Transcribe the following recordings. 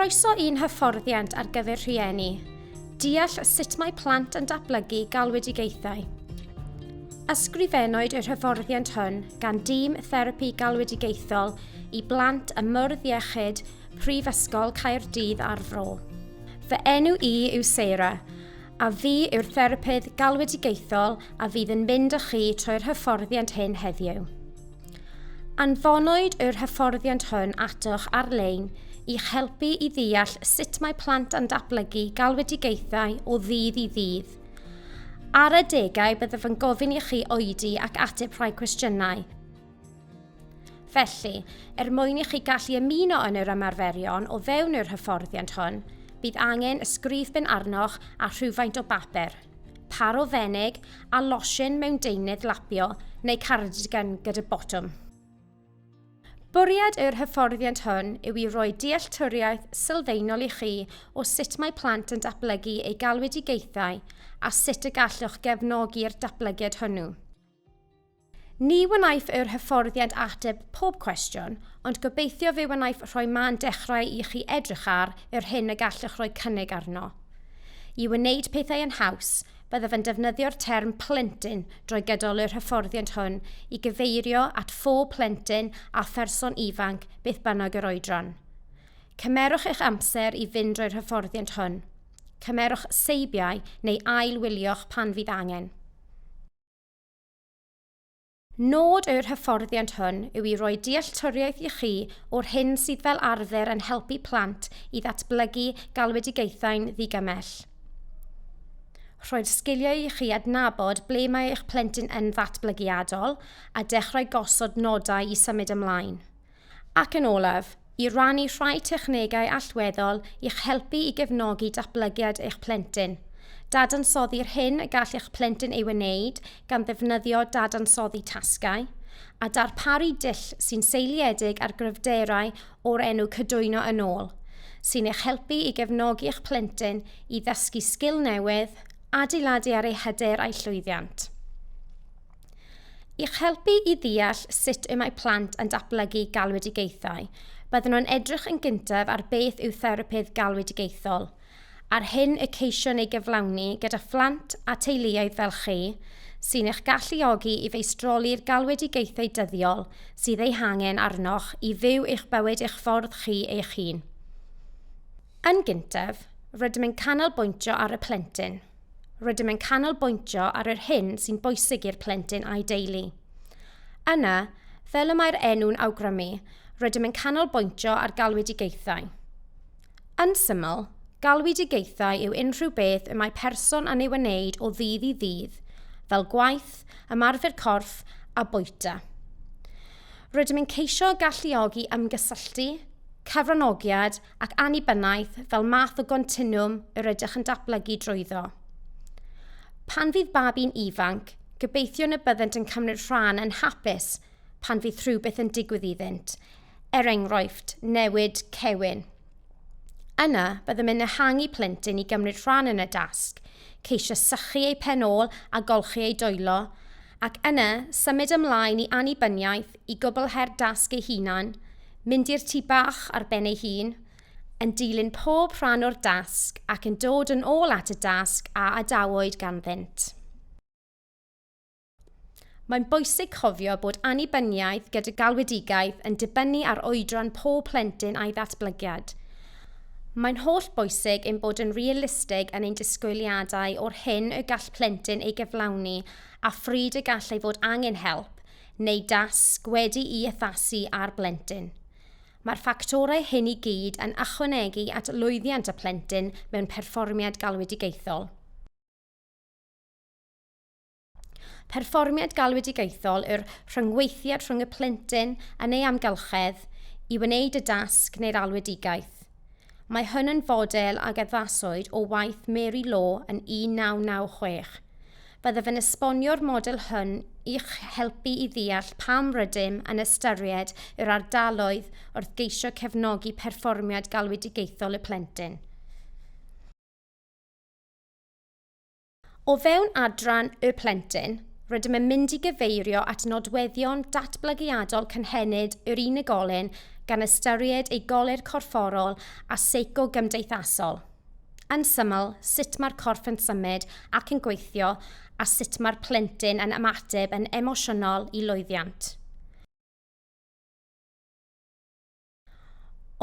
Croeso i'n hyfforddiant ar gyfer rhieni. Deall sut mae plant yn datblygu galwedigaethau. Ysgrifennwyd yr hyfforddiant hwn gan dîm therapi galwedigaethol i blant ym Mwrdd Iechyd Prifysgol Caerdydd a'r Fro. Fy enw i yw Sarah, a fi yw'r therapydd galwedigaethol a fydd yn mynd â chi trwy'r hyfforddiant hyn heddiw. Anfonwyd yr hyfforddiant hwn atoch ar-lein i'ch helpu i ddeall sut mae plant yn datblygu galwedigaethau o ddydd i ddydd. Ar adegau byddaf yn gofyn i chi oedi ac ateb rhai cwestiynau. Felly, er mwyn i chi gallu ymuno yn yr ymarferion o fewn yr hyfforddiant hwn, bydd angen ysgrifben arnoch a rhywfaint o bapur, par o fenig a losin mewn deunydd lapio neu cardigan gyda botwm. Bwriad yr hyfforddiant hwn yw i roi dealltwriaeth sylfaenol i chi o sut mae plant yn datblygu eu galwedigaethau a sut y gallwch gefnogi'r datblygiad hwnnw. Ni wnaiff yr hyfforddiant ateb pob cwestiwn, ond gobeithio fe wnaiff rhoi man dechrau i chi edrych ar yr hyn y gallwch roi cynnig arno. I wneud pethau yn haws, byddaf yn defnyddio'r term plentyn drwy gydol yr hyfforddiant hwn i gyfeirio at phob plentyn a pherson ifanc beth bynnag yr oedran. Cymerwch eich amser i fynd drwy'r hyfforddiant hwn. Cymerwch seibiau neu ail-wylio'ch pan fydd angen. Nod yr hyfforddiant hwn yw i roi dealltwriaeth i chi o'r hyn sydd fel arfer yn helpu plant i ddatblygu galwedigaethau'n ddigymell. Rhoi'r sgiliau i chi adnabod ble mae eich plentyn yn ddatblygiadol a dechrau gosod nodau i symud ymlaen. Ac yn olaf, i rannu rhai technegau allweddol i'ch helpu i gefnogi datblygiad eich plentyn. Dadansoddi'r hyn y gall eich plentyn ei wneud gan ddefnyddio dadansoddi tasgau, a darparu dull sy'n seiliedig ar gryfderau o'r enw Cydwyno yn Ôl, sy'n eich helpu i gefnogi eich plentyn i ddysgu sgil newydd, adeiladu ar eu hyder a'u llwyddiant. I'ch helpu i ddeall sut y mae plant yn datblygu galwedigaethau, byddwn yn edrych yn gyntaf ar beth yw therapydd galwedigaethol, a'r hyn y ceision ei gyflawni gyda phlant a teuluoedd fel chi, sy'n eich galluogi i feistroli'r galwedigaethau dyddiol sydd eu hangen arnoch i fyw eich bywyd eich ffordd chi eich hun. Yn gyntaf, rydym yn canolbwyntio ar y plentyn. Rydym yn canolbwyntio ar yr hyn sy'n bwysig i'r plentyn a'i deulu. Yna, fel y mae'r enw'n awgrymu, rydym yn canolbwyntio ar galwedigaethau. Yn syml, galwedigaethau yw unrhyw beth y mae person yn ei wneud o ddydd i ddydd, fel gwaith, ymarfer corff a bwyta. Rydym yn ceisio galluogi ymgysylltu, cyfranogiad ac annibyniaeth fel math o gontinwwm yr ydych yn datblygu drwyddo. Pan fydd babi'n ifanc, gobeithiwn y byddent yn cymryd rhan yn hapus pan fydd rhywbeth yn digwydd iddynt, er enghraifft, newid cewyn. Yna, byddem yn ehangu plentyn i gymryd rhan yn y dasg, ceisio sychu ei phen ôl a golchi ei dwylo, ac yna symud ymlaen i annibyniaeth i gwblhau'r dasg ei hunan, mynd i'r tŷ bach ar ben ei hun, yn dilyn pob rhan o'r dasg ac yn dod yn ôl at y dasg a adawyd ganddynt. Mae'n bwysig cofio bod annibyniaeth gyda galwedigaeth yn dibynnu ar oedran pob plentyn a'i ddatblygiad. Mae'n holl bwysig ein bod yn realistig yn ein disgwyliadau o'r hyn y gall plentyn ei gyflawni a phryd y gall ei fod angen help, neu dasg wedi'i addasu ar blentyn. Mae'r ffactorau hyn i gyd yn ychwanegu at lwyddiant y plentyn mewn perfformiad galwedigaethol. Perfformiad galwedigaethol yw'r rhyngweithiad rhwng y plentyn yn ei amgylchedd i wneud y dasg neu'r alwedigaeth. Mae hwn yn fodel ag addaswyd o waith Mary Law yn 1996. Byddaf yn esbonio'r model hwn i'ch helpu i ddeall pam rydym yn ystyried yr ardaloedd wrth geisio cefnogi perfformiad galwedigaethol y plentyn. O fewn adran Y Plentyn, rydym yn mynd i gyfeirio at nodweddion datblygiadol cynhenid yr unigolyn gan ystyried ei goler corfforol a seico-gymdeithasol. Yn syml, sut mae'r corff yn symud ac yn gweithio a sut mae'r plentyn yn ymateb yn emosiynol i lwyddiant.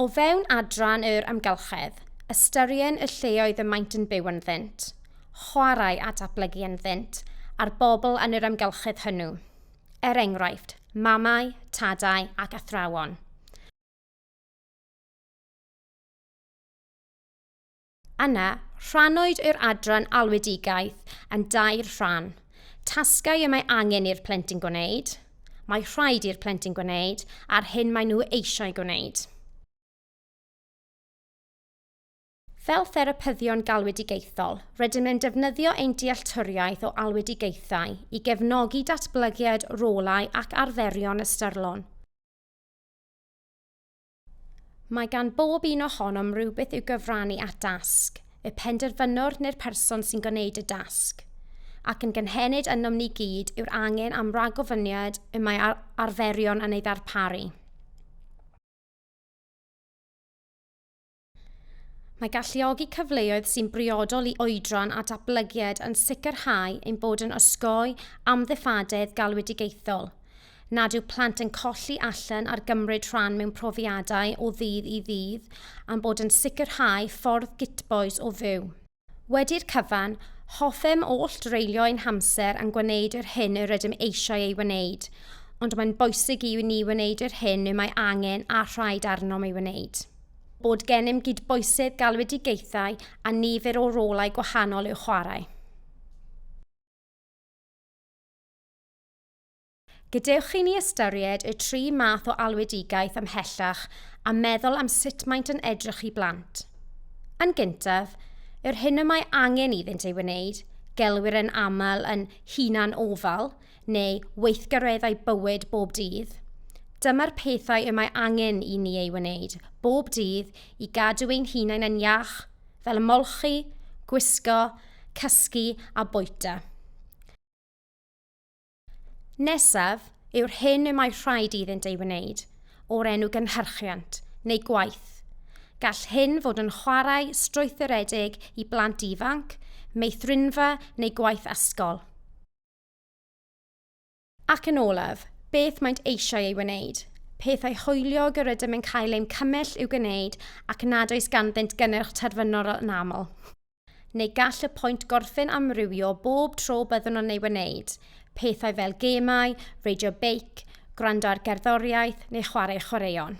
O fewn adran yr amgylchedd, ystyrien y lleoedd y maent yn byw ynddynt, chwarae a datblygu ynddynt, a'r bobl yn yr amgylchedd hwnnw. Er enghraifft, mamau, tadau ac athrawon. Yna, rhannwyd yr adran alwedigaeth yn dair rhan, tasgau y mae angen i'r plentyn gwneud, mae rhaid i'r plentyn gwneud a'r hyn maen nhw eisiau gwneud. Fel therapyddion galwedigaethol, rydym yn defnyddio ein dealltwriaeth o alwedigaethau i gefnogi datblygiad rolau ac arferion ystyrlon. Mae gan bob un ohonom rywbeth i'w gyfrannu at dasg, y penderfynwr neu'r person sy'n gwneud y dasg. Ac yn gynhenid ynom ni gyd yw'r angen am ragofyniad y mae ar arferion yn ei ddarparu. Mae galluogi cyfleoedd sy'n briodol i oedran a datblygiad yn sicrhau ein bod yn osgoi amddiffadedd galwedigaethol, nad yw plant yn colli allan ar gymryd rhan mewn profiadau o ddydd i ddydd, a'n bod yn sicrhau ffordd gytbois o fyw. Wedi'r cyfan, hoffem oll dreulio ein hamser yn gwneud yr hyn yr ydym eisiau ei wneud, ond mae'n bwysig i ni wneud yr hyn y mae angen a rhaid arnom ei wneud. Bod gennym gydbwysedd galwedigaethau a nifer o rolau gwahanol i'w chwarae. Gadewch i ni ystyried y tri math o alwedigaeth ymhellach a meddwl am sut maent yn edrych i blant. Yn gyntaf, yr hyn y mae angen iddynt ei wneud, gelwir yn aml yn hunan ofal neu weithgareddau bywyd bob dydd. Dyma'r pethau y mae angen i ni ei wneud bob dydd i gadw ein hunain yn iach, fel molchi, gwisgo, cysgu a bwyta. Nesaf yw'r hyn y mae rhaid iddynt ei wneud, o'r enw gynhyrchiant neu gwaith. Gall hyn fod yn chwarae strwythuredig i blant ifanc, meithrinfa neu gwaith ysgol. Ac yn olaf, beth maent eisiau ei wneud, pethau hwyliog yr ydym yn cael ein cymell i'w gwneud ac nad oes ganddynt gynnyrch terfynol yn aml. Neu gall y pwynt gorffen amrywio bob tro byddwn yn ei wneud, pethau fel gemau, reidio beic, gwrando ar gerddoriaeth neu chwarae chwaraeon.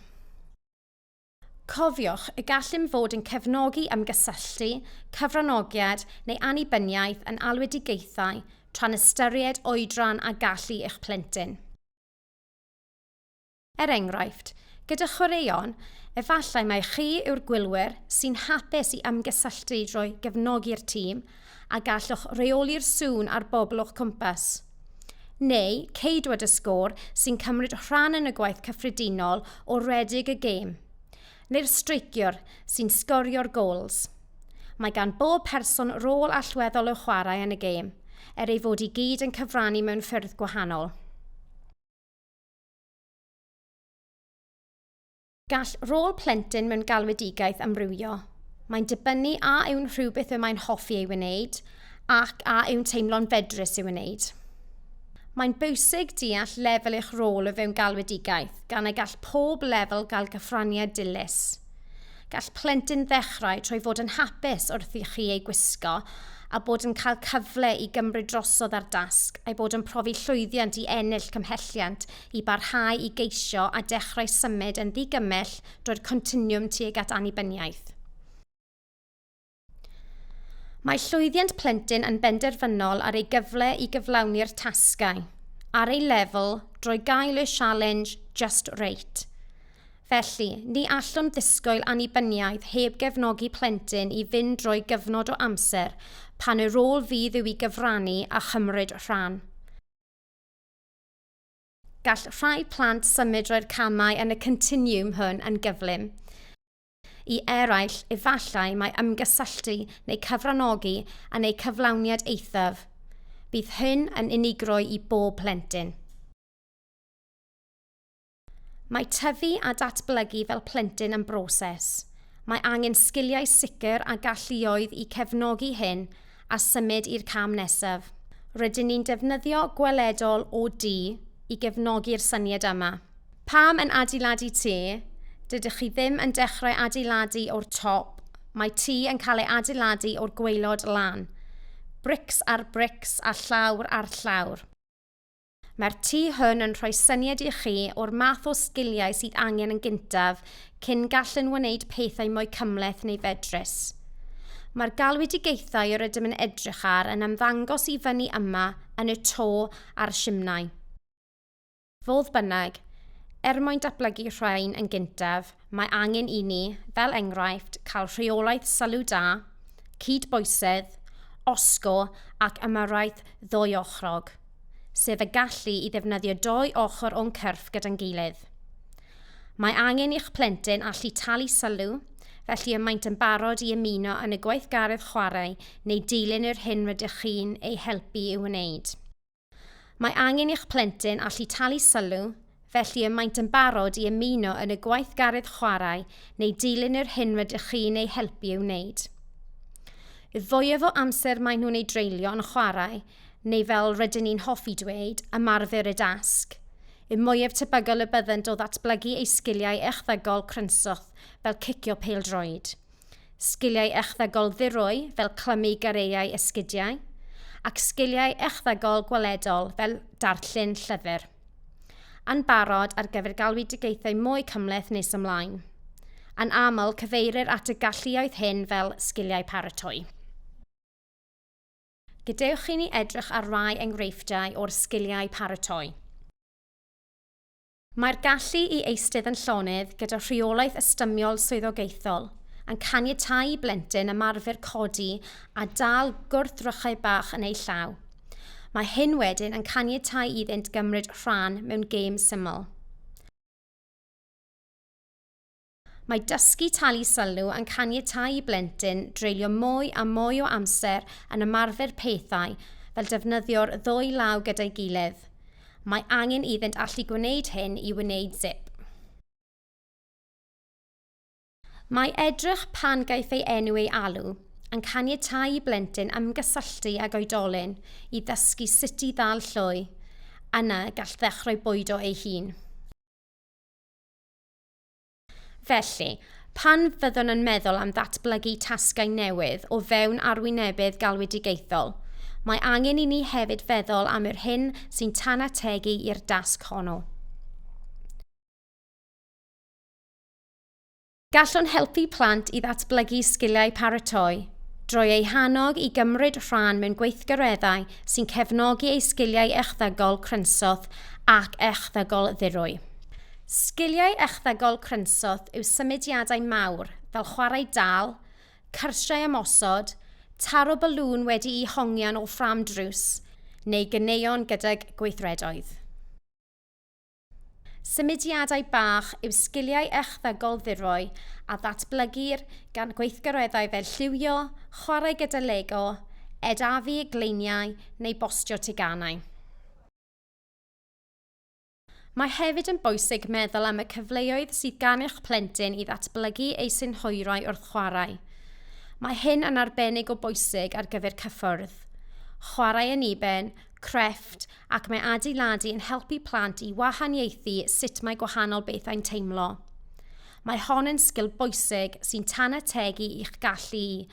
Cofiwch y gallem fod yn cefnogi ymgysylltu, cyfranogiad neu annibyniaeth yn alwedigaethau tra'n ystyried oedran a gallu eich plentyn. Er enghraifft, gyda chwaraeon, efallai mai chi yw'r gwylwyr sy'n hapus i ymgysylltu drwy gefnogi'r tîm a gallwch reoli'r sŵn a'r bobl o'ch cwmpas. Neu ceidwad y sgôr sy'n cymryd rhan yn y gwaith cyffredinol o redeg y gêm. Neu'r streiciwr sy'n sgorio'r gols. Mae gan bob person rôl allweddol i'w chwarae yn y gêm, er ei fod i gyd yn cyfrannu mewn ffyrdd gwahanol. Gall rôl plentyn mewn galwedigaeth amrywio. Mae'n dibynnu a yw'n rhywbeth y mae'n hoffi ei wneud ac a yw'n teimlo'n fedrus ei wneud. Mae'n bwysig deall lefel eich rôl o fewn galwedigaeth, gan y gall pob lefel gael cyfraniad dilys. Gall plentyn ddechrau trwy fod yn hapus wrth i chi ei gwisgo a bod yn cael cyfle i gymryd drosodd ar dasg a'i bod yn profi llwyddiant i ennill cymhelliant i barhau i geisio a dechrau symud yn ddigymell drwy'r continwwm tuag at annibyniaeth. Mae llwyddiant plentyn yn benderfynol ar ei gyfle i gyflawni'r tasgau ar ei lefel drwy gael y sialens just right. Felly, ni allwn ddisgwyl annibyniaeth heb gefnogi plentyn i fynd drwy gyfnod o amser pan y rôl fydd yw i gyfrannu a chymryd rhan. Gall rhai plant symud drwy'r camau yn y continiwm hwn yn gyflym. I eraill, efallai mae ymgysylltu neu cyfranogi yn eu cyflawniad eithaf. Bydd hyn yn unigrwy i bob plentyn. Mae tyfu a datblygu fel plentyn yn broses. Mae angen sgiliau sicr a galluoedd i cefnogi hyn a symud i'r cam nesaf. Rydyn ni'n defnyddio gweledol OD i gefnogi'r syniad yma. Pam yn adeiladu tŷ? Dydych chi ddim yn dechrau adeiladu o'r top, mae tŷ yn cael ei adeiladu o'r gwaelod lan. Brics ar brics a llawr ar llawr. Mae'r tŷ hwn yn rhoi syniad i chi o'r math o sgiliau sydd angen yn gyntaf cyn gallu'n wneud pethau mwy cymhleth neu fedrus. Mae'r galwedigaethau yr ydym yn edrych ar yn ymddangos i fyny yma yn y to a'r simnai. Fodd bynnag, er mwyn datblygu'r rhain yn gyntaf, mae angen i ni, fel enghraifft, cael rheolaeth sylw da, cydbwysedd, osgo ac ymyrraeth ddwyochrog, sef y gallu i ddefnyddio dou ochr o'n cyrff gyda'n gilydd. Mae angen i'ch plentyn allu talu sylw, felly y maent yn barod i ymuno yn y gweithgaredd chwarae neu dilyn yr hyn rydych chi'n ei helpu i'w wneud. Mae angen i'ch plentyn allu talu sylw, felly y maent yn barod i ymuno yn y gweithgaredd chwarae neu dilyn yr hyn rydych chi'n eu helpu i'w wneud. Y fwyaf o amser maen nhw'n ei dreulio yn chwarae, neu fel rydyn ni'n hoffi dweud, ymarfer y dasg, y mwyaf tebygol y byddent o ddatblygu eu sgiliau echddygol crynswth fel cicio pêl-droed. sgiliau echddygol ddirwy fel clymu gareiau esgidiau, ac sgiliau echddygol gweledol fel darllen llyfr. Yn barod ar gyfer galwedigaethau mwy cymhleth nes ymlaen. Yn aml, cyfeirir at y galluoedd hyn fel sgiliau paratoi. Gadewch i ni edrych ar rai enghreifftiau o'r sgiliau paratoi. Mae'r gallu i eistedd yn llonydd gyda rheolaeth ystymiol swyddogaethol yn caniatáu i blentyn ymarfer codi a dal gwrthrychau bach yn eu llaw. Mae hyn wedyn yn caniatáu iddynt gymryd rhan mewn gêm syml. Mae dysgu talu sylw yn caniatáu i blentyn dreulio mwy a mwy o amser yn ymarfer pethau fel defnyddio'r ddwy law gyda'i gilydd. Mae angen iddynt allu gwneud hyn i wneud zip. Mae edrych pan gaiff ei enw ei alw yn caniatáu i blentyn ymgysylltu ag oedolyn i ddysgu sut i ddal llwy, yna gall ddechrau bwydo ei hun. Felly, pan fyddwn yn meddwl am ddatblygu tasgau newydd o fewn arwynebedd galwedigaethol, mae angen i ni hefyd feddwl am yr hyn sy'n tanategu i'r dasg honno. Gallwn helpu plant i ddatblygu sgiliau paratoi drwy eu hannog i gymryd rhan mewn gweithgareddau sy'n cefnogi eu sgiliau echddygol crynswth ac echddygol ddirwy. Sgiliau echddygol Crynsoth yw symudiadau mawr fel chwarae dal, cyrsiau ymosod, taro balŵn wedi'i hongian o ffrâm drws, neu ganeuon gydag gweithredoedd. Symudiadau bach yw sgiliau echddygol ddirwy a ddatblygir gan gweithgareddau fel lliwio, chwarae gyda Lego, ed-afu gleiniau neu bostio teganau. Mae hefyd yn bwysig meddwl am y cyfleoedd sydd gan eich plentyn i ddatblygu ei synhwyrau wrth chwarae. Mae hyn yn arbennig o bwysig ar gyfer cyffwrdd, chwarae yn uben, crefft ac mae adeiladu yn helpu plant i wahaniaethu sut mae gwahanol bethau'n teimlo. Mae hon yn sgil bwysig sy'n tanategu i'ch gallu i,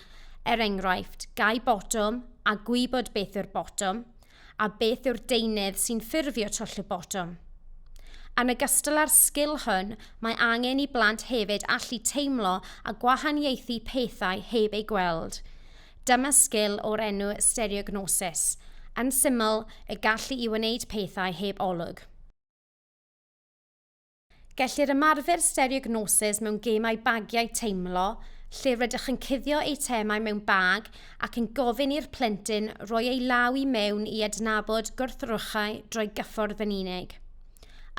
er enghraifft, gau botwm a gwybod beth yw'r botwm, a beth yw'r deunydd sy'n ffurfio twll y botwm. Yn ogystal â'r sgil hwn, mae angen i blant hefyd allu teimlo a gwahaniaethu pethau heb eu gweld. Dyma sgil o'r enw stereognosis, yn syml, y gallu i wneud pethau heb olwg. Gellir ymarfer stereognosis mewn gemau bagiau teimlo, lle rydych yn cuddio eitemau mewn bag ac yn gofyn i'r plentyn roi ei law i mewn i adnabod gwrthrychau drwy gyffordd yn unig.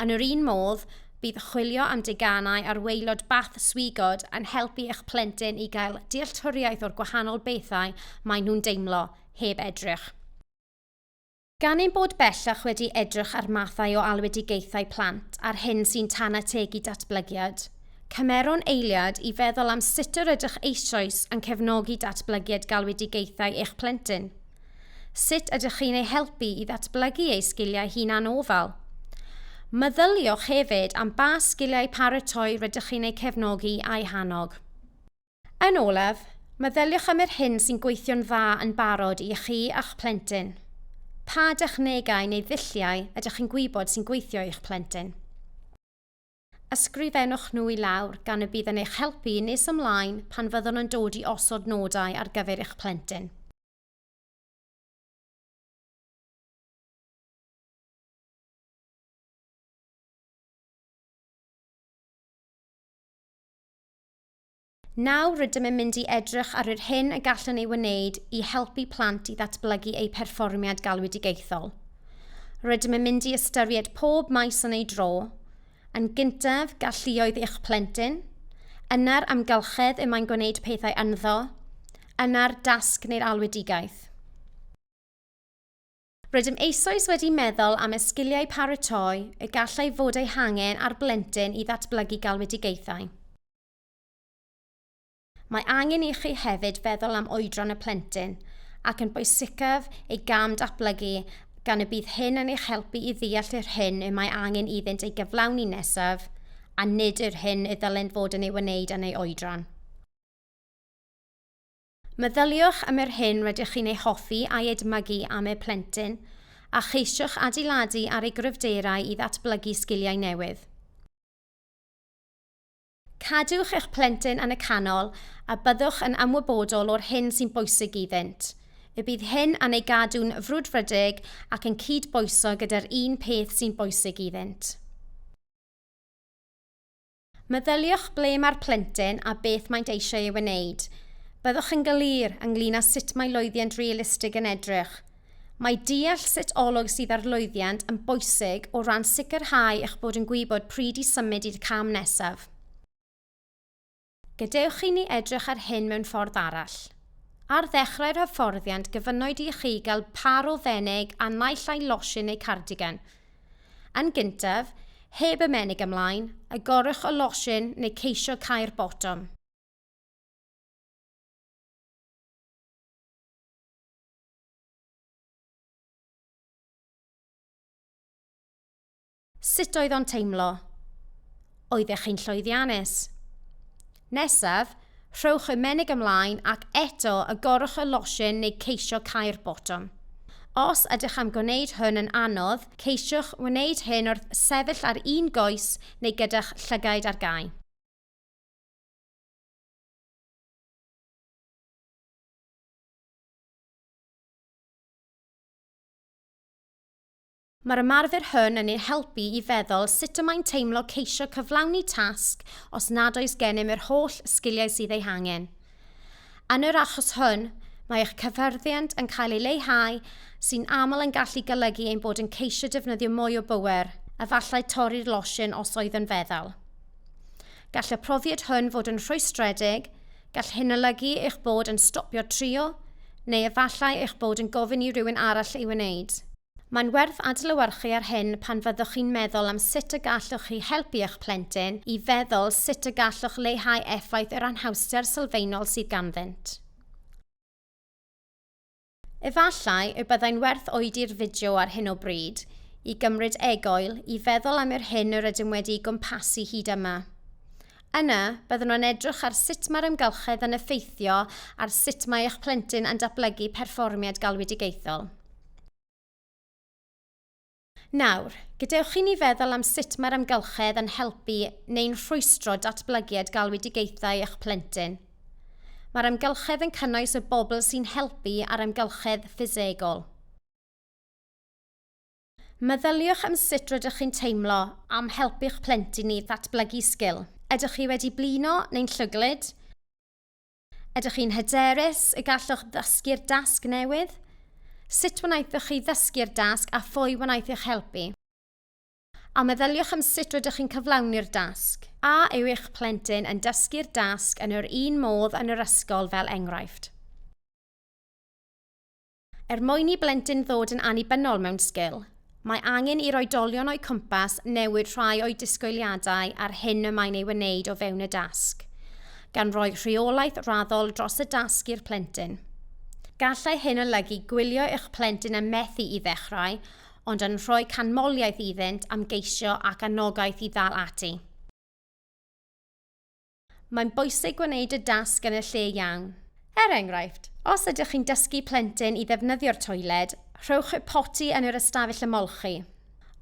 Yn yr un modd, bydd chwilio am deganau ar waelod bath swigod yn helpu eich plentyn i gael dealltwriaeth o'r gwahanol bethau maen nhw'n deimlo, heb edrych. Gan ein bod bellach wedi edrych ar mathau o alwedigaethau plant a'r hyn sy'n tan ategu datblygiad, cymerwn eiliad i feddwl am sut yr ydych eisoes yn cefnogi datblygiad galwedigaethau eich plentyn. Sut ydych chi'n ei helpu i ddatblygu ei sgiliau hunanofal? Meddyliwch hefyd am ba sgiliau paratoi rydych chi'n eu cefnogi a'u hannog. Yn olaf, meddyliwch am yr hyn sy'n gweithio'n dda yn barod i chi a'ch plentyn. Pa dechnegau neu ddulliau ydych chi'n gwybod sy'n gweithio i'ch plentyn? Ysgrifennwch nhw i lawr gan y bydd yn eich helpu nes ymlaen pan fyddwn yn dod i osod nodau ar gyfer eich plentyn. Nawr rydym yn mynd i edrych ar yr hyn y gallwn ei wneud i helpu plant i ddatblygu eu perfformiad galwedigaethol. Rydym yn mynd i ystyried pob maes yn ei dro, yn gyntaf galluoedd eich plentyn, yna'r amgylchedd y mae'n gwneud pethau ynddo, yna'r dasg neu'r alwedigaeth. Rydym eisoes wedi meddwl am y sgiliau paratoi y gallai fod eu hangen ar blentyn i ddatblygu galwedigaethau. Mae angen i chi hefyd feddwl am oedran y plentyn, ac yn bwysicaf ei gam datblygu gan y bydd hyn yn eich helpu i ddeall yr hyn y mae angen iddynt ei gyflawni nesaf a nid yr hyn y ddylent fod yn ei wneud yn ei oedran. Meddyliwch am yr hyn rydych chi'n ei hoffi a'i edmygu am eu plentyn, a cheisiwch adeiladu ar ei gryfderau i ddatblygu sgiliau newydd. Cadwch eich plentyn yn y canol a byddwch yn ymwybodol o'r hyn sy'n bwysig iddynt. Y bydd hyn yn ei gadw'n frwdfrydig ac yn cyd-bwyso gyda'r un peth sy'n bwysig iddynt. Meddyliwch ble mae'r plentyn a beth maent eisiau ei wneud. Byddwch yn glir ynglŷn â sut mae lwyddiant realistig yn edrych. Mae deall sut olwg sydd ar lwyddiant yn bwysig o ran sicrhau eich bod yn gwybod pryd i symud i'r cam nesaf. Gadewch i ni edrych ar hyn mewn ffordd arall. Ar ddechrau'r hyfforddiant gyfynnwyd i chi gael pâr o fenig a naill ai losin neu cardigan. Yn gyntaf, heb ymenig ymlaen, agorwch y losin neu ceisio cau'r botwm. Sut oedd o'n teimlo? Oeddech chi'n llwyddiannus? Nesaf, rhowch y menig ymlaen ac eto agorwch y losin neu ceisio cau'r botwm. Os ydych am gwneud hwn yn anodd, ceisiwch wneud hyn wrth sefyll ar un goes neu gyda'ch llygaid ar gau. Mae'r ymarfer hwn yn ein helpu i feddwl sut y mae'n teimlo ceisio cyflawni tasg os nad oes gennym yr holl sgiliau sydd eu hangen. Yn yr achos hwn, mae eich cyffyrddiant yn cael ei leihau, sy'n aml yn gallu golygu ein bod yn ceisio defnyddio mwy o bŵer, efallai torri'r losin os oedd yn feddal. Gall y profiad hwn fod yn rhwystredig, gall hyn olygu eich bod yn stopio trio, neu efallai eich bod yn gofyn i rywun arall ei wneud. Mae'n werth adlewyrchu ar hyn pan fyddwch chi'n meddwl am sut y gallwch chi helpu eich plentyn i feddwl sut y gallwch leihau effaith yr anhawster sylfaenol sydd ganddynt. Efallai y byddai'n werth oedi'r fideo ar hyn o bryd, i gymryd egoil i feddwl am yr hyn yr ydym wedi'i gwmpasu hyd yma. Yna, byddwn yn edrych ar sut mae'r amgylchedd yn effeithio ar sut mae eich plentyn yn datblygu perfformiad galwedigaethol. Nawr, gadewch chi ni feddwl am sut mae'r amgylchedd yn helpu neu'n rhwystro datblygiad galwedigaethau eich plentyn. Mae'r amgylchedd yn cynnwys y bobl sy'n helpu a'r amgylchedd ffisegol. Meddyliwch am sut rydych chi'n teimlo am helpu'ch plentyn i ddatblygu sgil. Ydych chi wedi blino neu'n llwglyd? Ydych chi'n hyderus y gallwch ddysgu'r dasg newydd? Sut wnaethoch chi ddysgu'r dasg a phwy wnaeth eich helpu? A meddyliwch am sut rydych chi'n cyflawni'r dasg. A yw eich plentyn yn dysgu'r dasg yn yr un modd yn yr ysgol fel enghraifft? Er mwyn i blentyn ddod yn annibynnol mewn sgil, mae angen i'r oedolion o'u cwmpas newid rhai o'u disgwyliadau a'r hyn y mae'n ei wneud o fewn y dasg, gan roi rheolaeth raddol dros y dasg i'r plentyn. Gallai hyn olygu gwylio eich plentyn yn methu i ddechrau, ond yn rhoi canmoliaeth iddynt am geisio ac anogaeth i ddal ati. Mae'n bwysig gwneud y dasg yn y lle iawn. Er enghraifft, os ydych chi'n dysgu plentyn i ddefnyddio'r toiled, rhowch y poti yn yr ystafell ymolchi.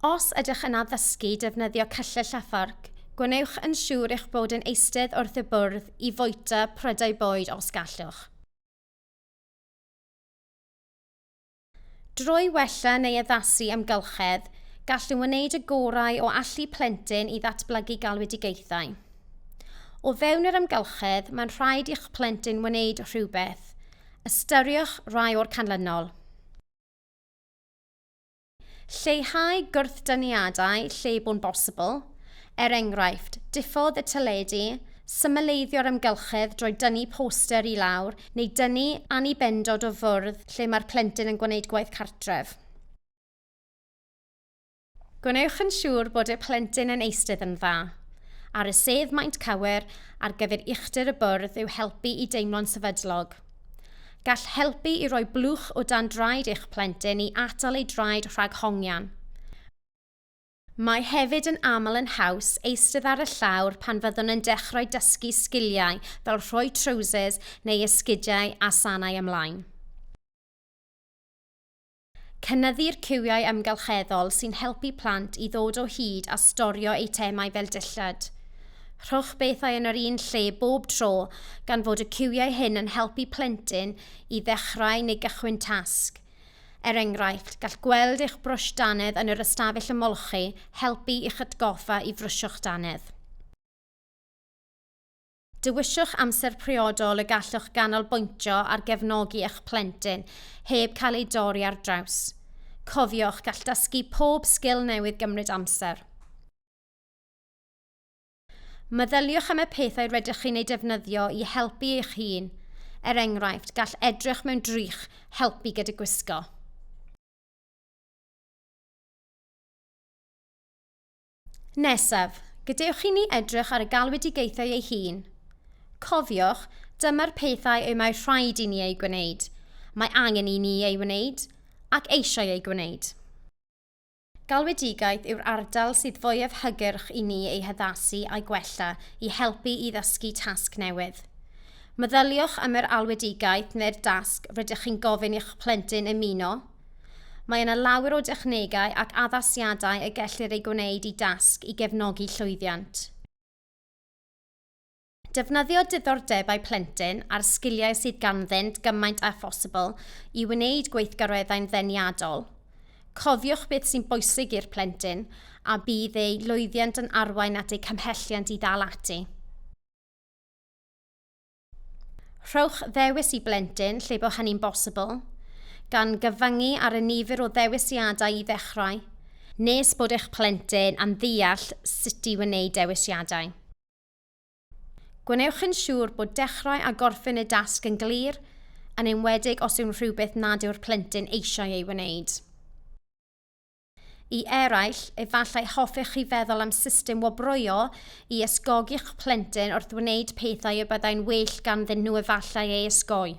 Os ydych yn addysgu defnyddio cyllell a fforc, gwnewch yn siŵr eich bod yn eistedd wrth y bwrdd i fwyta prydau bwyd os gallwch. Drwy wella neu addasu amgylchedd, gallwn wneud y gorau o allu plentyn i ddatblygu galwedigaethau. O fewn yr amgylchedd, mae'n rhaid i'ch plentyn wneud rhywbeth. Ystyriwch rai o'r canlynol. Lleihau gwrthdyniadau lle bo'n bosibl, Er enghraifft, diffodd y teledu, symleiddio'r amgylchedd drwy dynnu poster i lawr neu dynnu annibendod o fwrdd lle mae'r plentyn yn gwneud gwaith cartref. Gwnewch yn siŵr bod y plentyn yn eistedd yn dda. Ar y sedd maint cywir ar gyfer uchder y bwrdd yw helpu i deimlo'n sefydlog. Gall helpu i roi blwch o dan draed eich plentyn i atal ei draed rhag hongian. Mae hefyd yn aml yn haws eistedd ar y llawr pan fyddwn yn dechrau dysgu sgiliau fel rhoi trowsus neu esgidiau a sanau ymlaen. Cynyddu'r ciwiau amgylcheddol sy'n helpu plant i ddod o hyd a storio eitemau fel dillad. Rhowch bethau yn yr un lle bob tro gan fod y ciwiau hyn yn helpu plentyn i ddechrau neu gychwyn tasg. Er enghraifft, gall gweld eich brwsh dannedd yn yr ystafell ymolchi helpu i'ch atgoffa i frwsio'ch dannedd. Dewiswch amser priodol y gallwch ganolbwyntio ar gefnogi eich plentyn heb cael ei dorri ar draws. Cofiwch, gall dysgu pob sgil newydd gymryd amser. Meddyliwch am y pethau rydych chi'n eu defnyddio i helpu eich hun. Er enghraifft, gall edrych mewn drych helpu gyda gwisgo. Nesaf, gadewch i ni edrych ar y galwedigaethau ei hun. Cofiwch, dyma'r pethau y mae rhaid i ni eu gwneud, mae angen i ni ei wneud, ac eisiau ei gwneud. Galwedigaeth yw'r ardal sydd fwyaf hygyrch i ni ei haddasu a'i gwella i helpu i ddysgu tasg newydd. Meddyliwch am yr alwedigaeth neu'r dasg rydych chi'n gofyn i'ch plentyn ymuno. Mae yna lawer o dechnegau ac addasiadau y gellir eu gwneud i dasg i gefnogi llwyddiant. Defnyddio diddordebau plentyn a'r sgiliau sydd ganddynt gymaint â phosibl i wneud gweithgareddau'n ddeniadol. Cofiwch beth sy'n bwysig i'r plentyn a bydd eu lwyddiant yn arwain at eu cymhelliant i ddal ati. Rhowch ddewis i blentyn lle bod hynny'n bosibl, gan gyfyngu ar y nifer o ddewisiadau i ddechrau, nes bod eich plentyn yn ddeall sut i wneud dewisiadau. Gwnewch yn siŵr bod dechrau a gorffen y dasg yn glir, yn enwedig os yw'n rhywbeth nad yw'r plentyn eisiau ei wneud. I eraill, efallai hoffech chi feddwl am system wobroio i ysgogi'ch plentyn wrth wneud pethau y byddai'n well ganddyn nhw efallai ei ysgoi.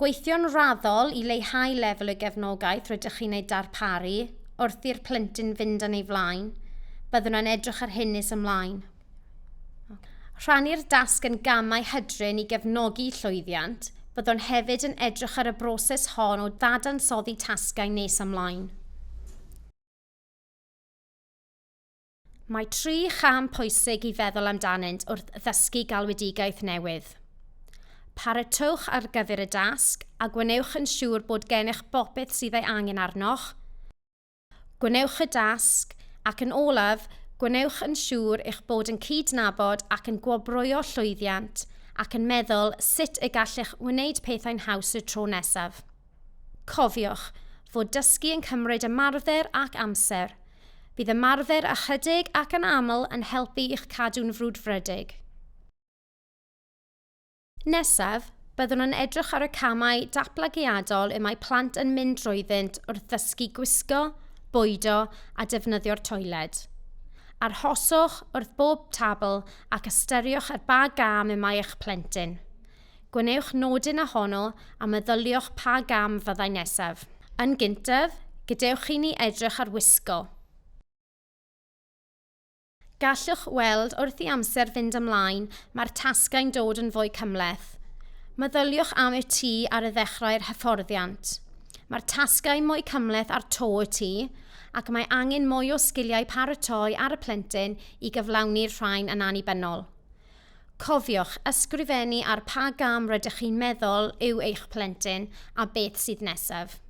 Gweithio'n raddol i leihau lefel y gefnogaeth rydych chi'n ei darparu wrth i'r plentyn fynd yn ei flaen. Byddwn yn edrych ar hyn nes ymlaen. Rhannu'r dasg yn gamau hydrin i gefnogi llwyddiant. Byddwn hefyd yn edrych ar y broses hon o ddadansoddi tasgau nes ymlaen. Mae tri cham pwysig i feddwl amdanynt wrth ddysgu galwedigaeth newydd. Paratowch ar gyfer y dasg a gwnewch yn siŵr bod gennych bopeth sydd ei angen arnoch. Gwnewch y dasg ac yn olaf, gwnewch yn siŵr eich bod yn cydnabod ac yn gwobrwyo llwyddiant ac yn meddwl sut y gallech wneud pethau'n haws y tro nesaf. Cofiwch fod dysgu yn cymryd ymarfer ac amser. Bydd ymarfer ychydig ac anaml yn helpu i'ch cadw'n frwdfrydig. Nesaf, byddwn yn edrych ar y camau datblygiadol y mae plant yn mynd drwyddynt wrth ddysgu gwisgo, bwydo a defnyddio'r toiled. Arhoswch wrth bob tabl ac ystyriwch ar ba gam y mae eich plentyn. Gwnewch nodyn a honno a meddyliwch pa gam fyddai nesaf. Yn gyntaf, gadewch i ni edrych ar wisgo. Gallwch weld wrth i amser fynd ymlaen mae'r tasgau'n dod yn fwy cymhleth. Meddyliwch am y tŷ ar y ddechrau'r hyfforddiant. Mae'r tasgau mwy cymhleth ar to y tŷ ac mae angen mwy o sgiliau paratoi ar y plentyn i gyflawni'r rhain yn annibynnol. Cofiwch ysgrifennu ar pa gam rydych chi'n meddwl yw eich plentyn a beth sydd nesaf.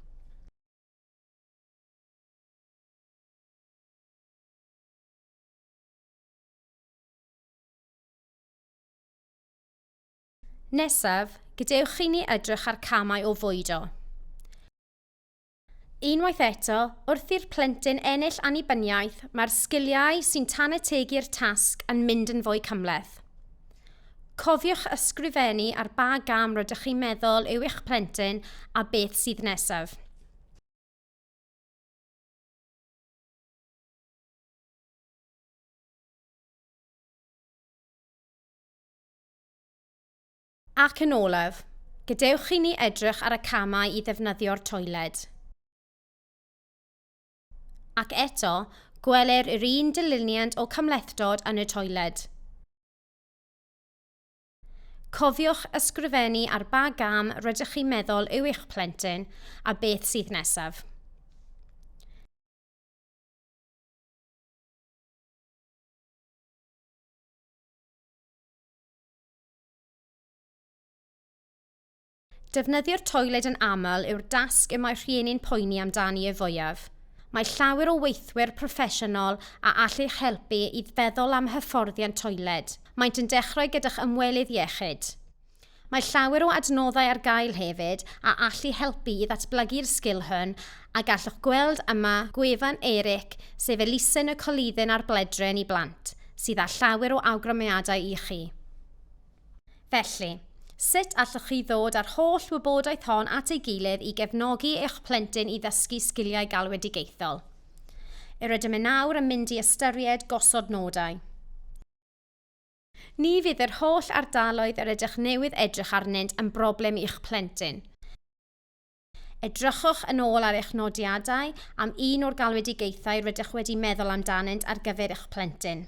Nesaf, gadewch i ni edrych ar camau o fwydo. Unwaith eto, wrth i'r plentyn ennill annibyniaeth, mae'r sgiliau sy'n tanetegu'r tasg yn mynd yn fwy cymhleth. Cofiwch ysgrifennu ar ba gam rydych chi'n meddwl yw eich plentyn a beth sydd nesaf. Ac yn olaf, gadewch i ni edrych ar y camau i ddefnyddio'r toiled. Ac eto, gweler yr un dyluniant o cymhlethdod yn y toiled. Cofiwch ysgrifennu ar ba gam rydych chi'n meddwl yw eich plentyn a beth sydd nesaf. Defnyddio'r toiled yn aml yw'r dasg y mae rhieni'n poeni amdani y fwyaf. Mae llawer o weithwyr proffesiynol a all eich helpu i feddwl am hyfforddiant toiled. Maent yn dechrau gyda'ch ymwelydd iechyd. Mae llawer o adnoddau ar gael hefyd a allu helpu i ddatblygu'r sgil hwn A gallwch gweld yma gwefan Eric, sef elusen y Colyddyn a'r Bledren i Blant, sydd â llawer o awgrymiadau i chi. Felly, sut allwch chi ddod â'r holl wybodaeth hon at ei gilydd i gefnogi eich plentyn i ddysgu sgiliau galwedigaethol? Yr ydym yn awr yn mynd i ystyried gosod nodau. Ni fydd yr holl ardaloedd yr ydych newydd edrych arnynt yn broblem i'ch plentyn. Edrychwch yn ôl ar eich nodiadau am un o'r galwedigaethau rydych wedi meddwl amdanynt ar gyfer eich plentyn.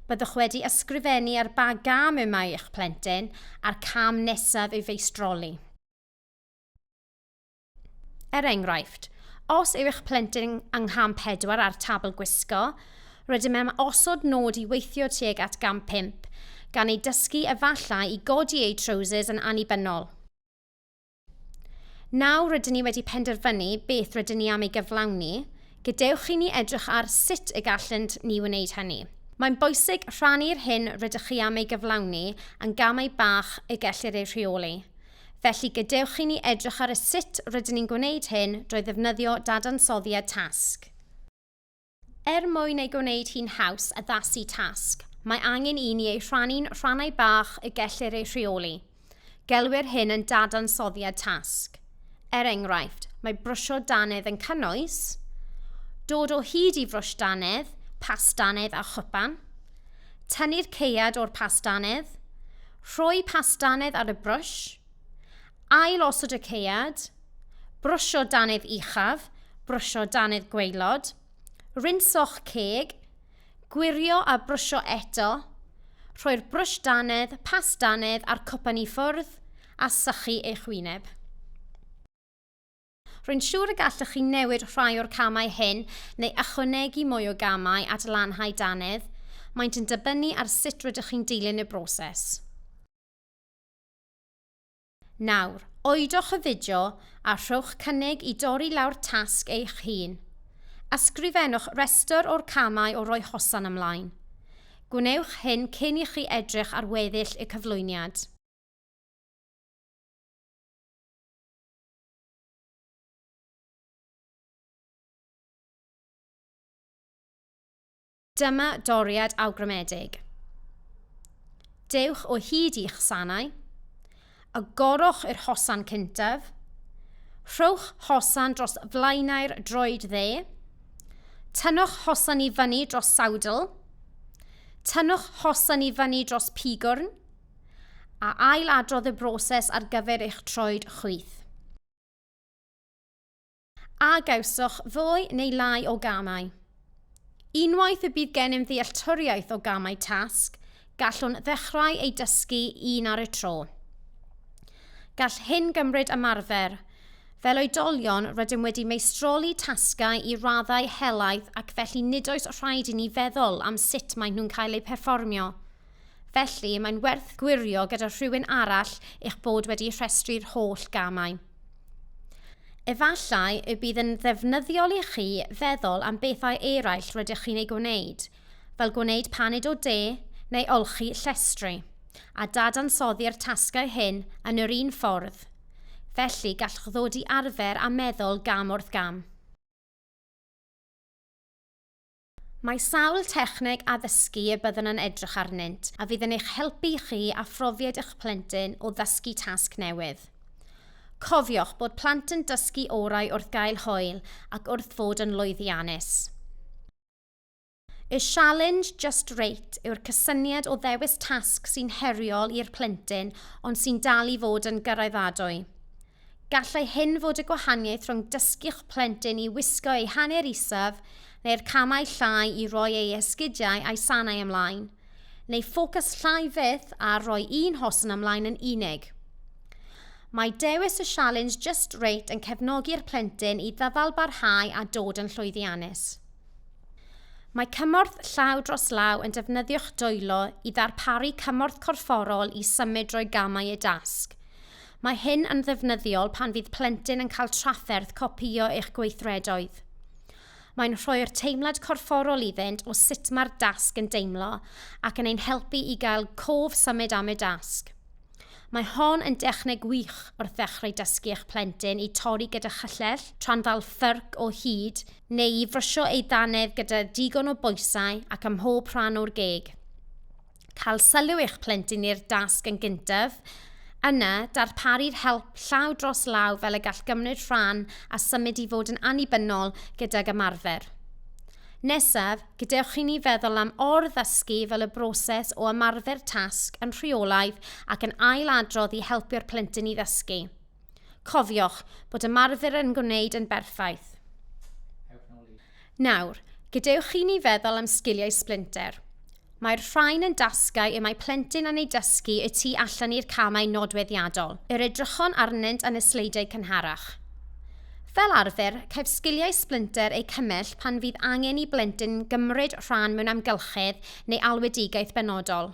Byddwch wedi ysgrifennu ar ba gam y mae eich plentyn a'r cam nesaf i'w feistroli. Er enghraifft, os yw eich plentyn yng ngham 4 ar tabl gwisgo, rydym am osod nod i weithio tuag at gam 5, gan ei dysgu efallai i godi eu trowsus yn annibynnol. Nawr rydyn ni wedi penderfynu beth rydyn ni am ei gyflawni, gadewch i ni edrych ar sut y gallent ni wneud hynny. Mae'n bwysig rhannu'r hyn rydych chi am ei gyflawni yn gamau bach y gellir eu rheoli. Felly gadewch i ni edrych ar y sut rydyn ni'n gwneud hyn drwy ddefnyddio dadansoddiad tasg. Er mwyn ei gwneud hi'n haws addasu tasg, mae angen i ni ei rhannu'n rhannau bach y gellir eu rheoli. Gelwir hyn yn dadansoddiad tasg. Er enghraifft, mae brwsio dannedd yn cynnwys dod o hyd i frwsh dannedd, pas dannedd a chwpan, tynnu'r ceuad o'r pas dannedd, rhoi pas dannedd ar y brwsh, ail osod y ceuad, Brwsio dannedd uchaf, brwsio dannedd gwaelod, rinso'ch ceg, gwirio a brwsio eto, rhoi'r brwsh dannedd, pas dannedd a'r cwpan i ffwrdd a sychu eich wyneb. Rwy'n siŵr y gallwch chi newid rhai o'r camau hyn neu ychwanegu mwy o gamau at lanhau dannedd, maent yn dibynnu ar sut rydych chi'n dilyn y broses. Nawr, oedwch y fideo a rhowch cynnig i dorri lawr tasg eich hun. Ysgrifennwch restr o'r camau o roi hosan ymlaen. Gwnewch hyn cyn i chi edrych ar weddill y cyflwyniad. Dyma doriad awgrymedig. Dewch o hyd i'ch sanau, agorwch yr hosan cyntaf, rhowch hosan dros flaenau'r droed dde, tynnwch hosan i fyny dros sawdl, tynnwch hosan i fyny dros pigwrn, a ail adrodd y broses ar gyfer eich troed chwith. A gawsoch ddwy neu lai o gamau? Unwaith y bydd gennym ddealltwriaeth o gamau tasg, gallwn ddechrau ei dysgu un ar y tro. Gall hyn gymryd ymarfer. Fel oedolion, rydym wedi meistroli tasgau i raddau helaeth ac felly nid oes rhaid i ni feddwl am sut maen nhw'n cael eu perfformio. Felly, mae'n werth gwirio gyda rhywun arall eich bod wedi rhestru'r holl gamau. Efallai y bydd yn ddefnyddiol i chi feddwl am bethau eraill rydych chi'n ei gwneud, fel gwneud paned o de neu olchi llestri, a dadansoddi'r tasgau hyn yn yr un ffordd. Felly, gallwch ddod i arfer a meddwl gam wrth gam. Mae sawl techneg addysgu y byddwn yn edrych arnynt a fydd yn eich helpu i chi a phrofiad eich plentyn o ddysgu tasg newydd. Cofiwch bod plant yn dysgu orau wrth gael hwyl ac wrth fod yn lwyddiannus. Y sialens Just Rate yw'r cysyniad o ddewis tasg sy'n heriol i'r plentyn ond sy'n dal i fod yn gyraeddadwy. Gallai hyn fod y gwahaniaeth rhwng dysgu'ch plentyn i wisgo ei hanner isaf neu'r camau llai i roi ei esgidiau a'i sanau ymlaen, neu ffocws llai fyth ar roi un hosan ymlaen yn unig. Mae dewis y sialens Just Rate yn cefnogi'r plentyn i ddyfalbarhau a dod yn llwyddiannus. Mae cymorth llaw dros law yn defnyddio'ch dwylo i ddarparu cymorth corfforol i symud drwy gamau y dasg. Mae hyn yn ddefnyddiol pan fydd plentyn yn cael trafferth copïo eich gweithredoedd. Mae'n rhoi'r teimlad corfforol iddynt o sut mae'r dasg yn deimlo ac yn ein helpu i gael cof symud am y dasg. Mae hon yn dechneg wych wrth ddechrau dysgu eich plentyn i torri gyda chyllell, tra'n ddal ffyrc o hyd, neu i frysio ei ddannedd gyda digon o bwysau ac ym mhob rhan o'r geg. cael sylw eich plentyn i'r dasg yn gyntaf, yna darparu'r help llaw dros law fel y gall gymryd rhan a symud i fod yn annibynnol gydag ymarfer. Nesaf, gadewch i ni feddwl am or-ddysgu fel y broses o ymarfer tasg yn rheolaidd ac yn ail-adrodd i helpu'r plentyn i ddysgu. Cofiwch bod ymarfer yn gwneud yn berffaith. Nawr, gadewch i ni feddwl am sgiliau sblinter. Mae'r rhain yn dasgau y mae plentyn yn ei dysgu y tu allan i'r camau nodweddiadol, yr edrychon arnynt yn y sleidiau cynharach. Fel arfer, caiff sgiliau sblinter eu cymell pan fydd angen i blentyn gymryd rhan mewn amgylchedd neu alwedigaeth benodol.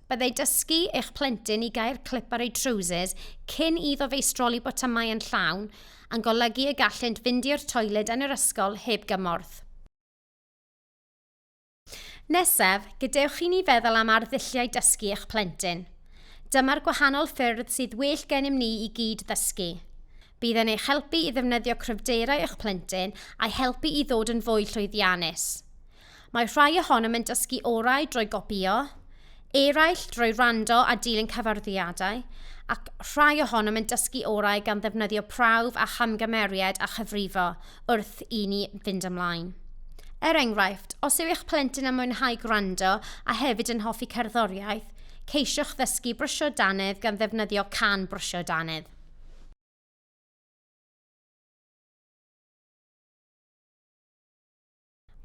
Byddai dysgu eich plentyn i gau'r clip ar ei trowsus cyn iddo feistroli botymau yn llawn yn golygu y gallent fynd i'r toiled yn yr ysgol heb gymorth. Nesaf, gadewch i ni feddwl am arddulliau dysgu eich plentyn. Dyma'r gwahanol ffyrdd sydd well gennym ni i gyd ddysgu. Bydd yn eich helpu i ddefnyddio cryfderau eich plentyn a'i helpu i ddod yn fwy llwyddiannus. Mae rhai ohonom yn dysgu orau drwy gopïo, eraill drwy wrando a dilyn cyfarwyddiadau, ac rhai ohonom yn dysgu orau gan ddefnyddio prawf a chamgymeriad a chyfrifo wrth i ni fynd ymlaen. Er enghraifft, os yw eich plentyn yn mwynhau gwrando a hefyd yn hoffi cerddoriaeth, ceisiwch ddysgu brwsio dannedd gan ddefnyddio can brwsio dannedd.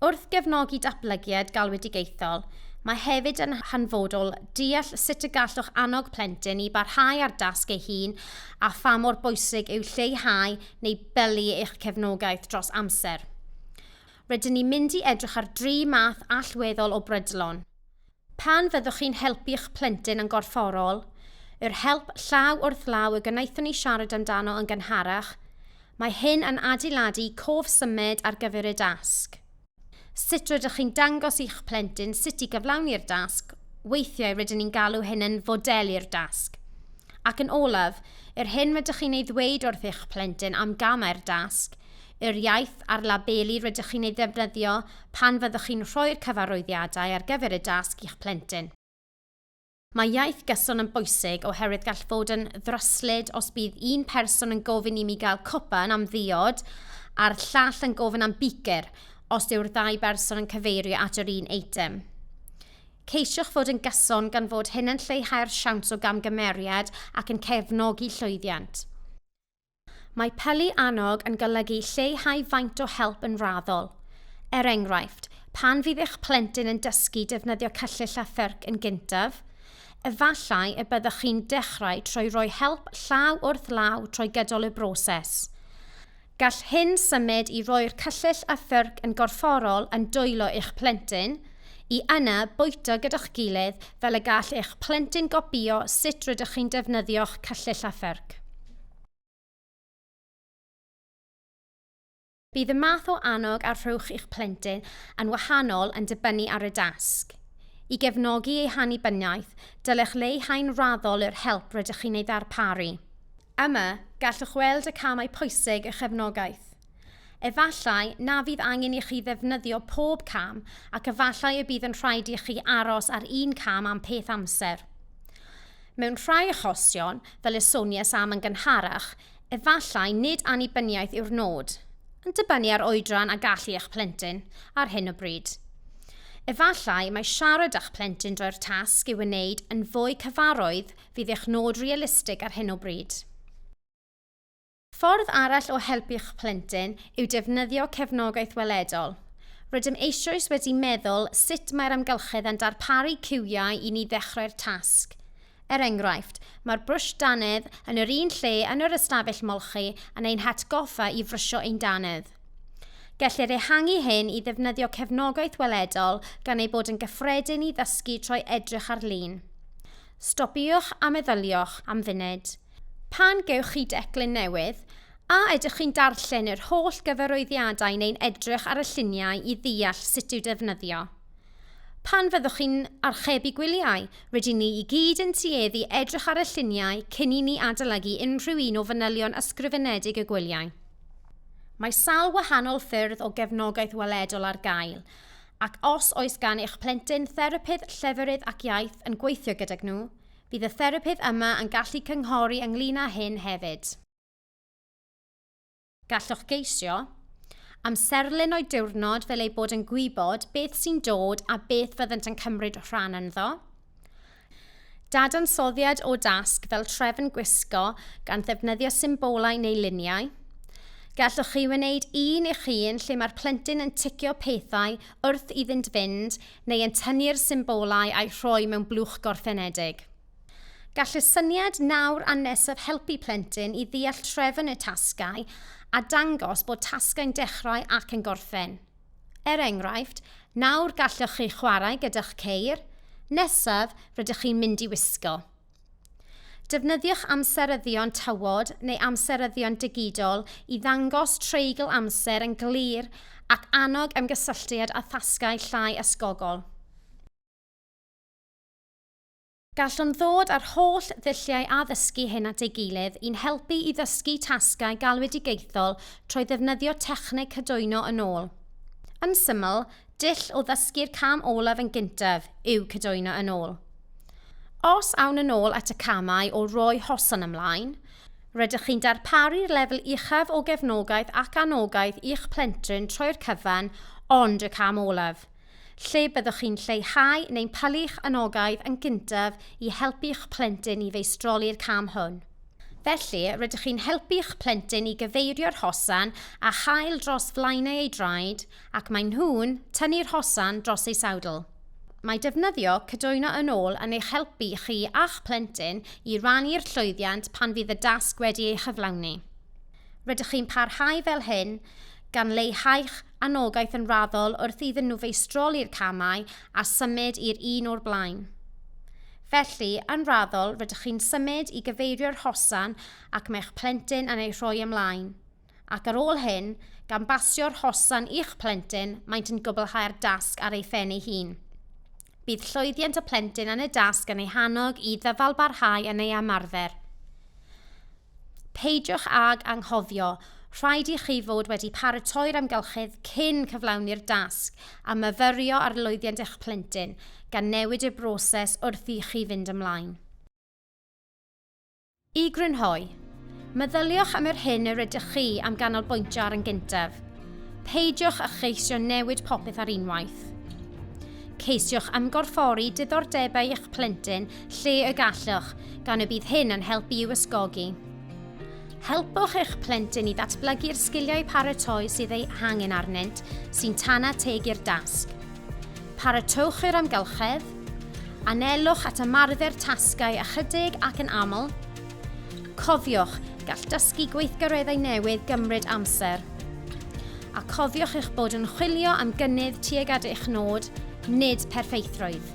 Wrth gefnogi datblygiad galwedigaethol, mae hefyd yn hanfodol deall sut y gallwch annog plentyn i barhau â'r dasg ei hun a pha mor bwysig yw lleihau neu bylu eich cefnogaeth dros amser. Rydyn ni'n mynd i edrych ar dri math allweddol o brydlon. Pan fyddwch chi'n helpu'ch plentyn yn gorfforol, yr help llaw wrth law y gwnaethon ni siarad amdano yn gynharach, mae hyn yn adeiladu cof symud ar gyfer y dasg. Sut rydych chi'n dangos i'ch plentyn sut i gyflawni'r dasg, weithiau rydyn ni'n galw hyn yn fodelu'r dasg. Ac yn olaf, yr hyn rydych chi'n ei ddweud wrth eich plentyn am gamau'r dasg yr iaith a'r labeli rydych chi'n ei ddefnyddio pan fyddwch chi'n rhoi'r cyfarwyddiadau ar gyfer y dasg i'ch plentyn. Mae iaith gyson yn bwysig oherwydd gall fod yn ddryslyd os bydd un person yn gofyn i mi gael cwpan am ddiod a'r llall yn gofyn am bicr os yw'r ddau berson yn cyfeirio at yr un eitem. Ceisiwch fod yn gyson gan fod hyn yn lleihau'r siawns o gamgymeriad ac yn cefnogi llwyddiant. Mae pylu annog yn golygu lleihau faint o help yn raddol. Er enghraifft, pan fydd eich plentyn yn dysgu defnyddio cyllyll a thyrc yn gyntaf, efallai y byddwch chi'n dechrau trwy roi help llaw wrth law trwy gydol y broses. Gall hyn symud i roi'r cyllyll a thyrc yn gorfforol yn dwylo eich plentyn, i yna bwyta gyda'ch gilydd fel y gall eich plentyn gopïo sut rydych chi'n defnyddio'ch cyllyll a pherc. Bydd y math o annog a rhowch i'ch plentyn yn wahanol yn dibynnu ar y dasg. I gefnogi ei hannibyniaeth, dylech leihau'n raddol yr help rydych chi'n ei ddarparu. Yma, gallwch weld y camau pwysig a chefnogaeth. Efallai na fydd angen i chi ddefnyddio pob cam ac efallai y bydd yn rhaid i chi aros ar un cam am peth amser. Mewn rhai achosion, fel y sonies am yn gynharach, efallai nid annibyniaeth yw'r nod, yn dibynnu ar oedran a gallu eich plentyn ar hyn o bryd. Efallai mae siarad â'ch plentyn droi'r tasg i'w wneud yn fwy cyfarwydd Fydd eich nod realistig ar hyn o bryd? Ffordd arall o helpu'ch plentyn yw defnyddio cefnogaeth weledol. Rydym eisoes wedi meddwl sut mae'r amgylchedd yn darparu ciwiau i ni ddechrau'r tasg. Er enghraifft, mae'r brwsh dannedd yn yr un lle yn yr ystafell molchi yn ein hatgoffa i frysio ein dannedd. Gellir ehangu hyn i ddefnyddio cefnogaeth weledol gan ei bod yn gyffredin i ddysgu trwy edrych ar lun. Stopiwch a meddyliwch am funud. Pan gewch chi declyn newydd, a ydych chi'n darllen yr holl gyfarwyddiadau neu'n edrych ar y lluniau i ddeall sut i'w defnyddio? Pan fyddwch chi'n archebu gwyliau, rydyn ni i gyd yn tueddu edrych ar y lluniau cyn i ni adolygu unrhyw un o fanylion ysgrifenedig y gwyliau. Mae sawl gwahanol ffyrdd o gefnogaeth weledol ar gael, Ac os oes gan eich plentyn therapydd lleferydd ac iaith yn gweithio gydag nhw, bydd y therapydd yma yn gallu cynghori ynglŷn â hyn hefyd. Gallwch geisio amserlen o'u diwrnod fel eu bod yn gwybod beth sy'n dod a beth fyddant yn cymryd rhan ynddo. Dadansoddiad o dasg fel trefn gwisgo gan ddefnyddio symbolau neu luniau. Gallwch chi wneud un eich hun lle mae'r plentyn yn ticio pethau wrth iddynt fynd neu yn tynnu'r symbolau a'u rhoi mewn blwch gorffenedig. Gall y syniad nawr a nesaf helpu plentyn i ddeall trefn y tasgau a dangos bod tasgau'n dechrau ac yn gorffen. Er enghraifft, nawr gallwch chi chwarae gyda'ch ceir, nesaf rydych chi'n mynd i wisgo. Defnyddiwch amseryddion tywod neu amseryddion digidol i ddangos treigl amser yn glir ac annog ymgysylltiad a thasgau llai ysgogol. Gallwn ddod â'r holl ddulliau addysgu hyn at ei gilydd i'n helpu i ddysgu tasgau galwedigaethol trwy ddefnyddio techneg cydwyno yn ôl. Yn syml, dull o ddysgu'r cam olaf yn gyntaf yw cydwyno yn ôl. Os awn yn ôl at y camau o roi hosan ymlaen, rydych chi'n darparu'r lefel uchaf o gefnogaeth ac anogaeth i'ch plentyn troi'r cyfan ond y cam olaf, lle byddwch chi'n lleihau neu'n palu'ch anogaeth yn gyntaf i helpu'ch plentyn i feistroli'r cam hwn. Felly, rydych chi'n helpu'ch plentyn i gyfeirio'r hosan a chael dros flaenau ei draed ac maen nhw'n tynnu'r hosan dros ei sawdl. Mae defnyddio cydwyno yn ôl yn eich helpu chi a'ch plentyn i rannu'r llwyddiant pan fydd y dasg wedi ei chyflawni. Rydych chi'n parhau fel hyn gan leihau'ch anogaeth yn raddol wrth iddyn nhw feistroli'r camau a symud i'r un o'r blaen. Felly, yn raddol, rydych chi'n symud i gyfeirio'r hosan ac mae'ch plentyn yn ei rhoi ymlaen. Ac ar ôl hyn, gan basio'r hosan i'ch plentyn, maent yn gwblhau'r dasg ar ei phen ei hun. Bydd llwyddiant y plentyn yn y dasg yn ei hannog i ddyfalbarhau yn ei ymarfer. Peidiwch ag anghofio, rhaid i chi fod wedi paratoi'r amgylchedd cyn cyflawni'r dasg a myfyrio ar lwyddiant eich plentyn, gan newid y broses wrth i chi fynd ymlaen. I grynhoi, meddyliwch am yr hyn yr ydych chi am ganolbwyntio ar yn gyntaf. Peidiwch â cheisio newid popeth ar unwaith. Ceisiwch ymgorffori diddordebau eich plentyn lle y gallwch, gan y bydd hyn yn helpu i'w ysgogi. Helpwch eich plentyn i ddatblygu'r sgiliau paratoi sydd ei hangen arnynt sy'n tana teg i'r dasg. Paratowch i'r amgylchedd, anelwch at ymarfer tasgau ychydig ac yn aml. Cofiwch, gall dysgu gweithgareddau newydd gymryd amser. A cofiwch eich bod yn chwilio am gynnydd tuag at eich nod, nid perffeithrwydd.